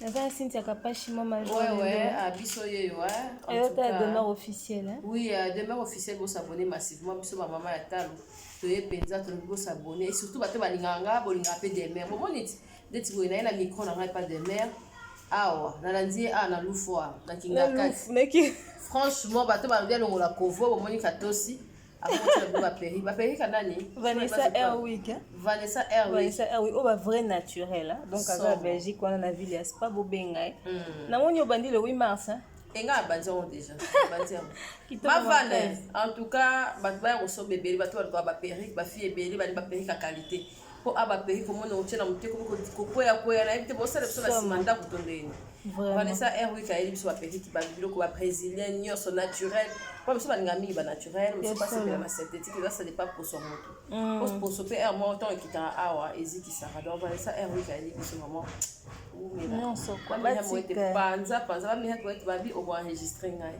naza na cynthia kapashi mama ah, biso yeyo ayota ah. demeure officiel eh? oui euh, demeure officiel bosabone massivement biso bamama ya talo toye mpenza tolingi bosabone et surtout bato balingaka nga bolingaka mpe demeure bomoni ti ndeti boye naye na micro na ngai pa demeure awa nalandi ye awa na lufu awa na kingakati franchement bato balobi alongola kovo bomoni katosi Vanessa Airwick. Hein? Vanessa Airwick. Vanessa Airwick. Oh, bah, vrai naturel. Hein? Donc, à la Belgique, on a la ville, c'est pas beau bengai. Hein. Hmm. Na moni au bandit le 8 mars. Hein? enga abanzango déjà bavanda en tout cas bato baya kosoba ebele bato balikoka baperike bafille ebele bali baperike ya qualité po a ba pays komona otie na moteko kokwea kwea nayebi te bosala biso na sima ndako to ndeni vanessa airwick ayeli biso baperiki babiloko babrésilien nyonso naturel po biso balinga mingi banaturel mosu basepela na synthétique ezasa depa poso ya moto po mm. poso mpe aire moko ntango ekitaka awa ezikisaka donc vanessa airwick ayeli biso vraiment nyonso panza panza bamihaki babi okoenregistre ngai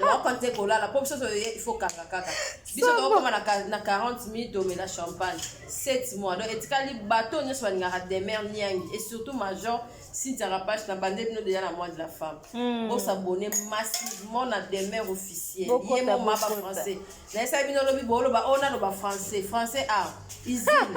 Wako nze kolala po biso toye il faut kanga kaka. Biso to koma na na 40 minutes to mela champagne. 7 mois donc etikali bateau nyoso balingaka demeure niangi et surtout major Cynthia Rapache na bande bino déjà na mois de la femme. Mm. Bo s'abonner massivement na demeure officielle. Ye mo maba français. Na esa bino lobi bolo ba ona loba français. Français ah. Izini.